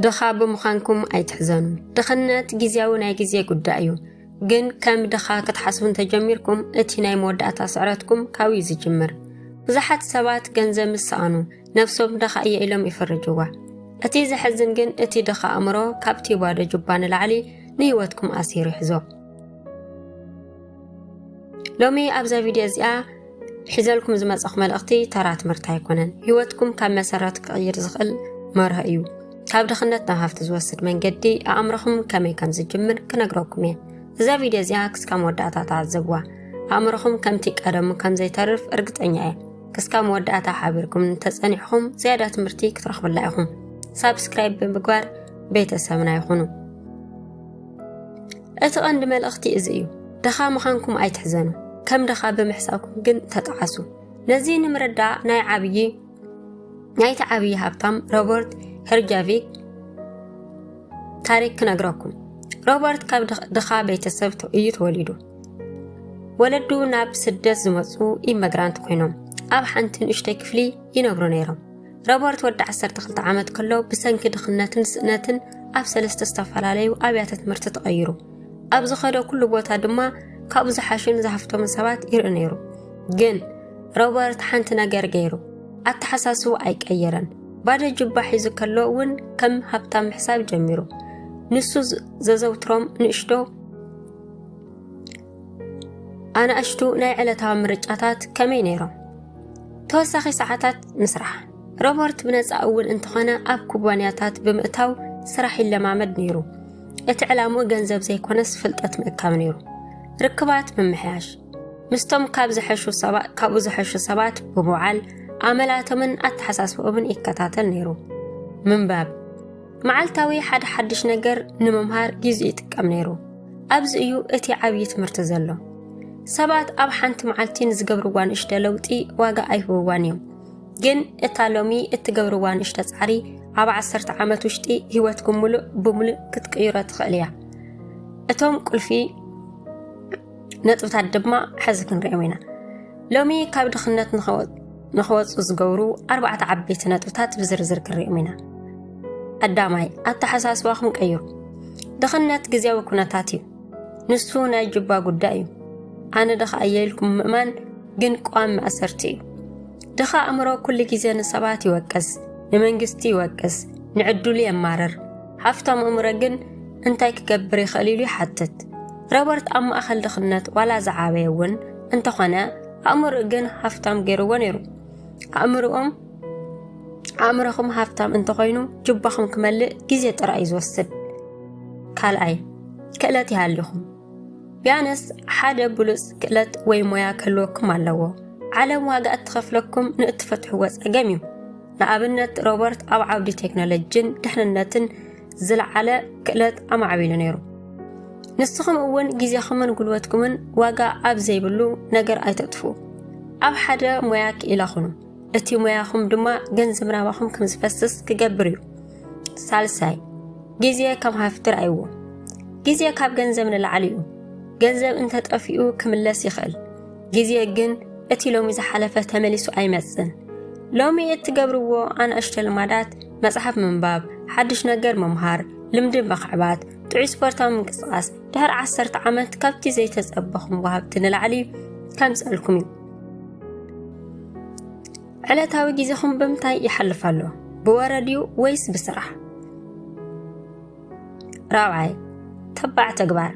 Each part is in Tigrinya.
ድኻ ብምዃንኩም ኣይትሕዘኑ። ድኽነት ግዜያዊ ናይ ግዜ ጉዳይ እዩ። ግን ከም ድኻ ክትሓስቡ እንተጀሚርኩም እቲ ናይ መወዳእታ ስዕረትኩም ካብኡ እዩ ዝጅምር ብዙሓት ሰባት ገንዘብ ምስ ሰኣኑ ነብሶም ድኻ እየ ኢሎም ይፍርጅዋ እቲ ዘሕዝን ግን እቲ ድኻ ኣእምሮ ካብቲ ባዶ ጁባ ንላዕሊ ንህይወትኩም ኣሲሩ ይሕዞ ሎሚ ኣብዛ ቪድዮ እዚኣ ሒዘልኩም ዝመፀኹ መልእኽቲ ተራ ትምህርቲ ኣይኮነን ህይወትኩም ካብ መሰረት ክቕይር ዝኽእል መርሆ እዩ ካብ ድኽነት ናብ ሃፍቲ ዝወስድ መንገዲ ኣእምሮኹም ከመይ ከም ዝጅምር ክነግረኩም እየ እዛ ቪድዮ እዚኣ ክስካብ መወዳእታ ተዓዘብዋ ኣእምሮኹም ከምቲ ቀደሙ ከም ዘይተርፍ እርግጠኛ እየ ክስካብ መወዳእታ ሓቢርኩም እንተፀኒሕኹም ዝያዳ ትምህርቲ ክትረኽብላ ኢኹም ሳብስክራይብ ብምግባር ቤተሰብና ይኹኑ እቲ ቐንዲ መልእኽቲ እዚ እዩ፣ ድኻ ምኻንኩም ኣይትሕዘኑ፣ ከም ድኻ ብምሕሳብኩም ግን ተጠዓሱ። ነዚ ንምርዳእ ናይ ዓብዪ ናይቲ ዓብዪ ሃብታም ሮበርት ሄርጃቪክ ታሪክ ክነግረኩም ሮበርት ካብ ድኻ ቤተሰብ እዩ ተወሊዱ ወለዱ ናብ ስደት ዝመፁ ኢመግራንት ኮይኖም ኣብ ሓንቲ ንእሽተይ ክፍሊ ይነብሩ ነይሮም ሮበርት ወዲ 12 ዓመት ከሎ ብሰንኪ ድኽነትን ስእነትን ኣብ ሰለስተ ዝተፈላለዩ ኣብያተ ትምህርቲ ተቐይሩ ኣብ ዝኸደ ኩሉ ቦታ ድማ ካብኡ ዝሓሹን ዝሃፍቶምን ሰባት ይርኢ ነይሩ ግን ሮበርት ሓንቲ ነገር ገይሩ ኣተሓሳስቡ ኣይቀየረን ባዶ ጅባ ሒዙ ከሎ እውን ከም ሃብታም ምሕሳብ ጀሚሩ ንሱ ዘዘውትሮም ንእሽዶ ኣናእሽቱ ናይ ዕለታዊ ምርጫታት ከመይ ነይሮም? ተወሳኺ ሰዓታት ምስራሕ ሮበርት ብነፃ እውን እንተኾነ ኣብ ኩባንያታት ብምእታው ስራሕ ይለማመድ ነይሩ። እቲ ዕላምኡ ገንዘብ ዘይኮነስ ፍልጠት ምእካብ ነይሩ። ርክባት ምምሕያሽ ምስቶም ካብ ዝሐሹ ሰባት ካብኡ ዝሐሹ ሰባት ብምውዓል ኣመላቶምን ኣተሓሳስባኦምን ይከታተል ነይሩ። ምንባብ መዓልታዊ ሓደ ሓድሽ ነገር ንምምሃር ግዜ ይጥቀም ነይሩ። ኣብዚ እዩ እቲ ዓብዪ ትምህርቲ ዘሎ። ሰባት ኣብ ሓንቲ መዓልቲ ንዝገብርዋ ንእሽተ ለውጢ ዋጋ ኣይህብዋን እዮም። ግን እታ ሎሚ እትገብርዋ ንእሽተ ጻዕሪ ኣብ ዓሰርተ ዓመት ውሽጢ ህይወትኩም ምሉእ ብምሉእ ክትቅይሮ ትኽእል እያ። እቶም ቁልፊ ነጥብታት ድማ ሕዚ ክንሪኦም ኢና። ሎሚ ካብ ድኽነት ንኸወጥ ንክወፁ ዝገብሩ ኣርባዕተ ዓበይቲ ነጥብታት ብዝርዝር ክንሪኦም ኢና ቀዳማይ ኣተሓሳስባኹም ቀይሩ ድኽነት ግዜያዊ ኩነታት እዩ ንሱ ናይ ጅባ ጉዳይ እዩ ኣነ ድኻ እየ ኢልኩም ምእማን ግን ቋም ማእሰርቲ እዩ ድኻ ኣእምሮ ኩሉ ግዜ ንሰባት ይወቅስ ንመንግስቲ ይወቅስ ንዕድሉ የማርር ሃፍታም ኣእምሮ ግን እንታይ ክገብር ይኽእል ኢሉ ይሓትት ሮበርት ኣብ ማእኸል ድኽነት ዋላ ዝዓበየ እውን እንተኾነ ኣእምሮኡ ግን ሃፍታም ገይርዎ ነይሩ። ኣእምሮኦም ኣእምሮኹም ሃፍታም እንተኾይኑ ጅባኹም ክመልእ ግዜ ጥራይ እዩ ዝወስድ። ካልኣይ ክእለት ይሃልኹም ቢያነስ ሓደ ብሉፅ ክእለት ወይ ሞያ ክህልወኩም ኣለዎ። ዓለም ዋጋ እትኸፍለኩም ንእትፈትሕዎ ፀገም እዩ። ንኣብነት ሮበርት ኣብ ዓውዲ ቴክኖሎጂን ድሕንነትን ዝለዓለ ክእለት ኣማዕቢሉ ነይሩ። ንስኹም እውን ግዜኹምን ጉልበትኩምን ዋጋ ኣብ ዘይብሉ ነገር ኣይተጥፍኡ ኣብ ሓደ ሞያ ክኢላ ኹኑ እቲ ሞያኹም ድማ ገንዘብ ናባኹም ከም ዝፈስስ ክገብር እዩ ሳልሳይ ግዜ ከም ሃፍቲ ርኣይዎ ግዜ ካብ ገንዘብ ንላዕሊ እዩ ገንዘብ እንተጠፊኡ ክምለስ ይኽእል ግዜ ግን እቲ ሎሚ ዝሓለፈ ተመሊሱ ኣይመጽን። ሎሚ እትገብርዎ ኣናእሽተ ልማዳት መጽሓፍ ምንባብ፣ ሓድሽ ነገር ምምሃር፣ ልምዲ ምኽዕባት፣ ጥዑይ ስፖርታዊ ምንቅስቓስ ድሕሪ ዓሰርተ ዓመት ካብቲ ዘይተጸበኹም ወሃብቲ ንላዕሊ ከምጸልኩም እዩ። ዕለታዊ ግዜኹም ብምንታይ ይሓልፍ ኣሎ? ብወረ ድዩ ወይስ ብስራሕ? ራብዓይ ተባዕ ተግባር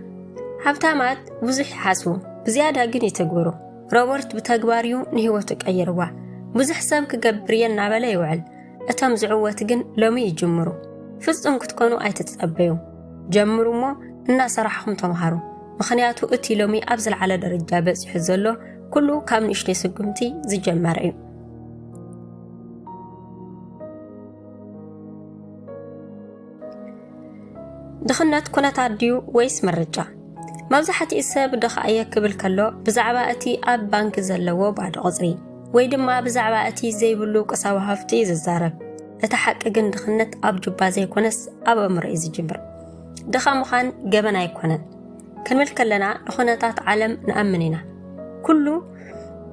ሃብታማት ብዙሕ ይሓስቡ ብዝያዳ ግን ይትግብሩ ሮበርት ብተግባር እዩ ንህይወቱ ቀይርዋ ብዙሕ ሰብ ክገብር እየ እናበለ ይውዕል እቶም ዝዕወት ግን ሎሚ ይጅምሩ ፍጹም ክትኮኑ ኣይትጸበዩ ጀምሩ እሞ እናሰራሕኹም ተምሃሩ ምኽንያቱ እቲ ሎሚ ኣብ ዝለዓለ ደረጃ በፂሑ ዘሎ ኩሉ ካብ ንእሽተይ ስጉምቲ ዝጀመረ እዩ ድኽነት ኩነታት ድዩ ወይስ ምርጫ? መብዛሕትኡ ሰብ ድኻ እየ ክብል ከሎ ብዛዕባ እቲ ኣብ ባንኪ ዘለዎ ባዶ ቁጽሪ ወይ ድማ ብዛዕባ እቲ ዘይብሉ ቁሳዊ ሃፍቲ እዩ ዝዛረብ። እቲ ሓቂ ግን ድኽነት ኣብ ጁባ ዘይኮነስ ኣብ ኣእምሮ እዩ ዝጅምር። ድኻ ምዃን ገበን ኣይኮነን። ክንብል ከለና ንኹነታት ዓለም ንኣምን ኢና። ኩሉ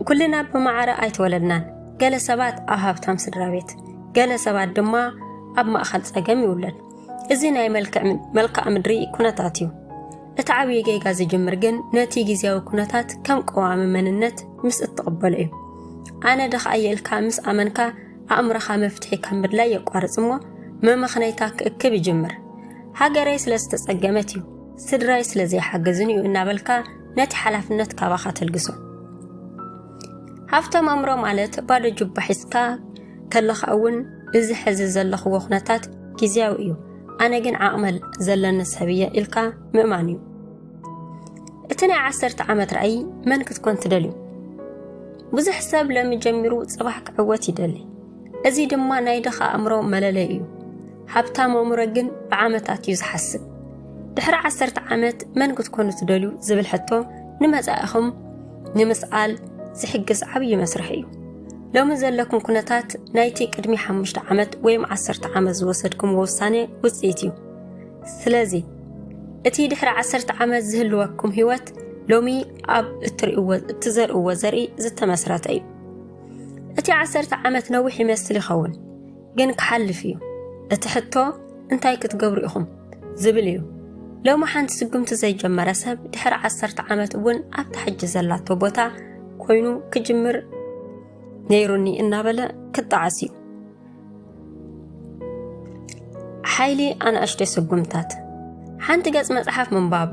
ኩልና ብማዕረ ኣይተወለድናን። ገለ ሰባት ኣብ ሃብታም ስድራ ቤት፣ ገለ ሰባት ድማ ኣብ ማእኸል ፀገም ይውለድ። እዚ ናይ መልክዓ ምድሪ ኩነታት እዩ። እቲ ዓብዪ ጌጋ ዝጅምር ግን ነቲ ግዜያዊ ኩነታት ከም ቀዋሚ መንነት ምስ እትቕበሎ እዩ። ኣነ ድኻ እየ ኢልካ ምስ ኣመንካ ኣእምሮኻ መፍትሒ ካብ ምድላይ የቋርፅ እሞ መመኽነይታ ክእክብ ይጅምር። ሃገረይ ስለ ዝተፀገመት እዩ ስድራይ ስለ ዘይሓገዝን እዩ እናበልካ ነቲ ሓላፍነት ካባኻ ተልግሶ ሃብቶም ኣእምሮ ማለት ባዶ ጁባ ሒዝካ ከለኻ እውን እዚ ሕዚ ዘለኽዎ ኩነታት ግዜያዊ እዩ ኣነ ግን ዓቕመል ዘለኒ ሰብ እየ ኢልካ ምእማን እዩ እቲ ናይ ዓሰርተ ዓመት ራእይ መን ክትኮን ትደልዩ ብዙሕ ሰብ ለሚ ጀሚሩ ጽባሕ ክዕወት ይደሊ እዚ ድማ ናይ ድኻ ኣእምሮ መለለይ እዩ ሃብታም ኣእምሮ ግን ብዓመታት እዩ ዝሓስብ። ድሕሪ ዓሰርተ ዓመት መን ክትኮኑ ትደልዩ ዝብል ሕቶ ንመጻኢኹም ንምስኣል ዝሕግዝ ዓብዪ መስርሕ እዩ። ሎሚ ዘለኩም ኩነታት ናይቲ ቅድሚ ሓሙሽተ ዓመት ወይም ዓሰርተ ዓመት ዝወሰድኩምዎ ውሳነ ውፅኢት እዩ። ስለዚ እቲ ድሕሪ ዓሰርተ ዓመት ዝህልወኩም ህይወት ሎሚ ኣብ እትዘርእዎ ዘርኢ ዝተመስረተ እዩ። እቲ ዓሰርተ ዓመት ነዊሕ ይመስል ይኸውን። ግን ክሓልፍ እዩ እቲ ሕቶ እንታይ ክትገብሩ ኢኹም ዝብል እዩ ሎሚ ሓንቲ ስጉምቲ ዘይጀመረ ሰብ ድሕሪ ዓሰርተ ዓመት እውን ኣብታ ሕጂ ዘላቶ ቦታ ኮይኑ ክጅምር ነይሩኒ እናበለ ክጣዓስ እዩ ሓይሊ ኣናእሽተይ ስጉምታት ሓንቲ ገጽ መጽሓፍ ምንባብ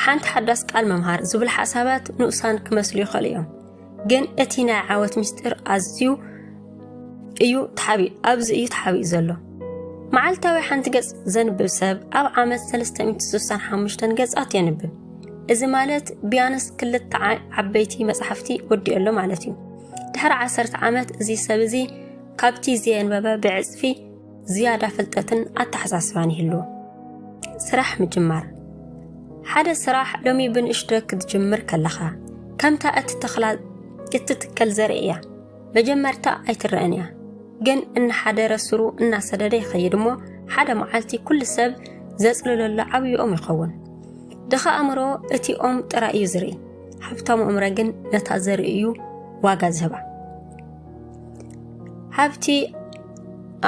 ሓንቲ ሓዳስ ቃል ምምሃር ዝብል ሓሳባት ንኡሳን ክመስሉ ይኽእሉ እዮም ግን እቲ ናይ ዓወት ምስጢር ኣዝዩ እዩ ተሓቢኡ ኣብዚ እዩ ተሓቢኡ ዘሎ መዓልታዊ ሓንቲ ገጽ ዘንብብ ሰብ ኣብ ዓመት 365 ገጻት የንብብ እዚ ማለት ቢያንስ ክልተ ዓበይቲ መጽሓፍቲ ወዲኦሎ ማለት እዩ ድሕሪ ዓሰርተ ዓመት እዚ ሰብ እዚ ካብቲ ዘየንበበ ብዕጽፊ ዝያዳ ፍልጠትን ኣተሓሳስባን ይህሉ። ስራሕ ምጅማር ሓደ ስራሕ ሎሚ ብንእሽቶ ክትጅምር ከለኻ ከምታ እትተኽላ እትትከል ዘርኢ እያ። መጀመርታ ኣይትረአን እያ፣ ግን እናሓደረ ስሩ እናሰደደ ይኸይድ እሞ ሓደ መዓልቲ ኩሉ ሰብ ዘጽልለሉ ዓብዪ ኦም ይኸውን። ድኻ ኣእምሮ እቲ ኦም ጥራይ እዩ ዝርኢ፣ ሃብታሙ እምረ ግን ነታ ዘርኢ እዩ ዋጋ ዝህባ። ሃብቲ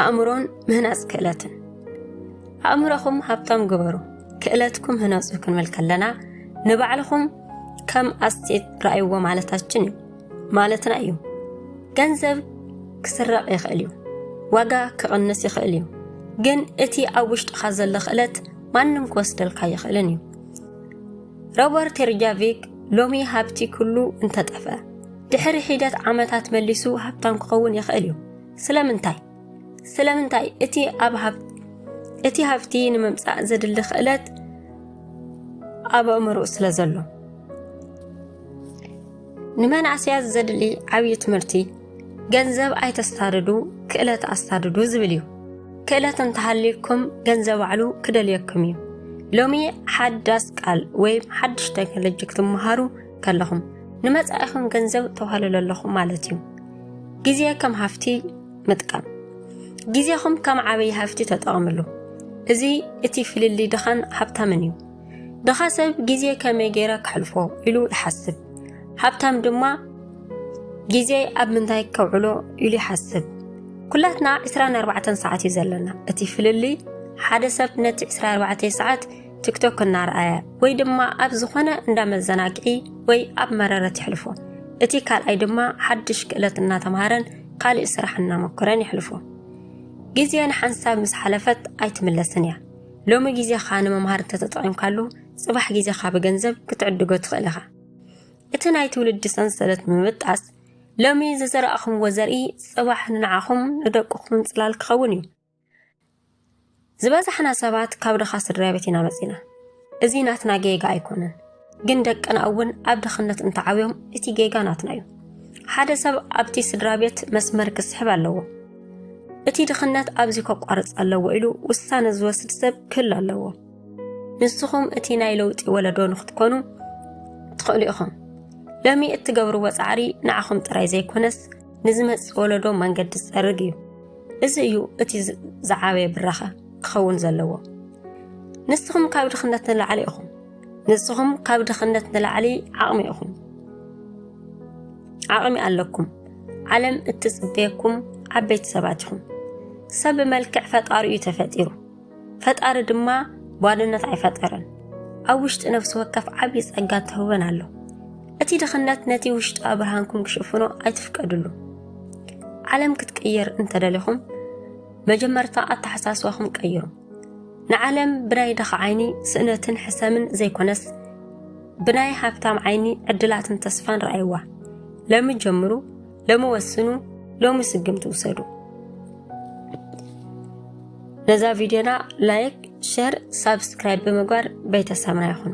ኣእምሮን ምህናፅ ክእለትን ኣእምሮኹም ሃብታም ግበሩ ክእለትኩም ህነፁ ክንብል ከለና ንባዕልኹም ከም ኣስቴት ረኣይዎ ማለታችን እዩ ማለትና እዩ ገንዘብ ክስረቕ ይኽእል እዩ ዋጋ ክቕንስ ይኽእል እዩ ግን እቲ ኣብ ውሽጥኻ ዘሎ ክእለት ማንም ክወስደልካ ይኽእልን እዩ ሮበርት ሪጃቪክ ሎሚ ሃብቲ ኩሉ እንተጠፍአ ድሕሪ ሒደት ዓመታት መሊሱ ሃብታም ክኸውን ይኽእል እዩ። ስለምንታይ? ስለምንታይ እቲ ኣብ ሃብቲ እቲ ሃብቲ ንምምጻእ ዘድሊ ክእለት ኣብ ኣእምሮኡ ስለ ዘሎ ንመናእሰያት ዘድሊ ዓብዪ ትምህርቲ ገንዘብ ኣይተስታድዱ ክእለት ኣስታድዱ ዝብል እዩ ክእለት እንተሃልዩኩም ገንዘብ ባዕሉ ክደልየኩም እዩ ሎሚ ሓዳስ ቃል ወይም ሓድሽ ቴክኖሎጂ ክትመሃሩ ከለኹም ንመጻኢኹም ገንዘብ ተዋህልሉ ኣለኹም ማለት እዩ። ግዜ ከም ሃፍቲ ምጥቃም ግዜኹም ከም ዓበይ ሃፍቲ ተጠቐምሉ። እዚ እቲ ፍልልይ ድኻን ሃብታምን እዩ። ድኻ ሰብ ግዜ ከመይ ገይረ ከሕልፎ ኢሉ ይሓስብ፣ ሃብታም ድማ ግዜ ኣብ ምንታይ ከውዕሎ ኢሉ ይሓስብ። ኩላትና 24 ሰዓት እዩ ዘለና። እቲ ፍልልይ ሓደ ሰብ ነቲ 24 ሰዓት ቲክቶክ እናርኣየ ወይ ድማ ኣብ ዝኾነ እንዳ መዘናግዒ ወይ ኣብ መረረት ይሕልፎ። እቲ ካልኣይ ድማ ሓድሽ ክእለት እናተምሃረን ካልእ ስራሕ እናመኮረን ይሕልፎ። ግዜ ንሓንሳብ ምስ ሓለፈት ኣይትምለስን እያ። ሎሚ ግዜኻ ንምምሃር እንተተጠቒምካሉ ጽባሕ ግዜኻ ብገንዘብ ክትዕድጎ ትኽእል ኢኻ። እቲ ናይ ትውልዲ ሰንሰለት ንምብጣስ ሎሚ ዝዘራእኹምዎ ዘርኢ ጽባሕ ንዓኹም ንደቅኹም ጽላል ክኸውን እዩ። ዝበዛሕና ሰባት ካብ ድኻ ስድራ ቤት ኢና መፂና እዚ ናትና ጌጋ ኣይኮነን ግን ደቅና እውን ኣብ ድኽነት እንተዓብዮም እቲ ጌጋ ናትና እዩ ሓደ ሰብ ኣብቲ ስድራ ቤት መስመር ክስሕብ ኣለዎ እቲ ድኽነት ኣብዚ ከቋርፅ ኣለዎ ኢሉ ውሳነ ዝወስድ ሰብ ክህሉ ኣለዎ ንስኹም እቲ ናይ ለውጢ ወለዶ ንክትኮኑ ትኽእሉ ኢኹም ሎሚ እትገብርዎ ፃዕሪ ንዓኹም ጥራይ ዘይኮነስ ንዝመፅእ ወለዶ መንገዲ ዝፀርግ እዩ። እዚ እዩ እቲ ዝዓበየ ብራኸ ክኸውን ዘለዎ። ንስኹም ካብ ድኽነት ንላዕሊ ኢኹም። ንስኹም ካብ ድኽነት ንላዕሊ ዓቕሚ ኢኹም። ዓቕሚ ኣለኩም። ዓለም እትፅበየኩም ዓበይቲ ሰባት ኢኹም። ሰብ ብመልክዕ ፈጣሪኡ ተፈጢሩ። ፈጣሪ ድማ ጓልነት ኣይፈጠረን ኣብ ውሽጢ ነፍሲ ወከፍ ዓብዪ ጸጋ ተህበን ኣሎ እቲ ድኽነት ነቲ ውሽጣዊ ብርሃንኩም ክሽፍኖ ኣይትፍቀድሉ ዓለም ክትቅየር እንተደሊኹም መጀመርታ ኣተሓሳስባኹም ቀይሩ ንዓለም ብናይ ድኻ ዓይኒ ስእነትን ሕሰምን ዘይኮነስ ብናይ ሃብታም ዓይኒ ዕድላትን ተስፋን ረኣይዋ ለሚ ጀምሩ ሎሚ ወስኑ ሎሚ ስግምቲ ውሰዱ ነዛ ቪድዮና ላይክ ሸር ሳብስክራይብ ብምግባር ቤተሰብና ይኹኑ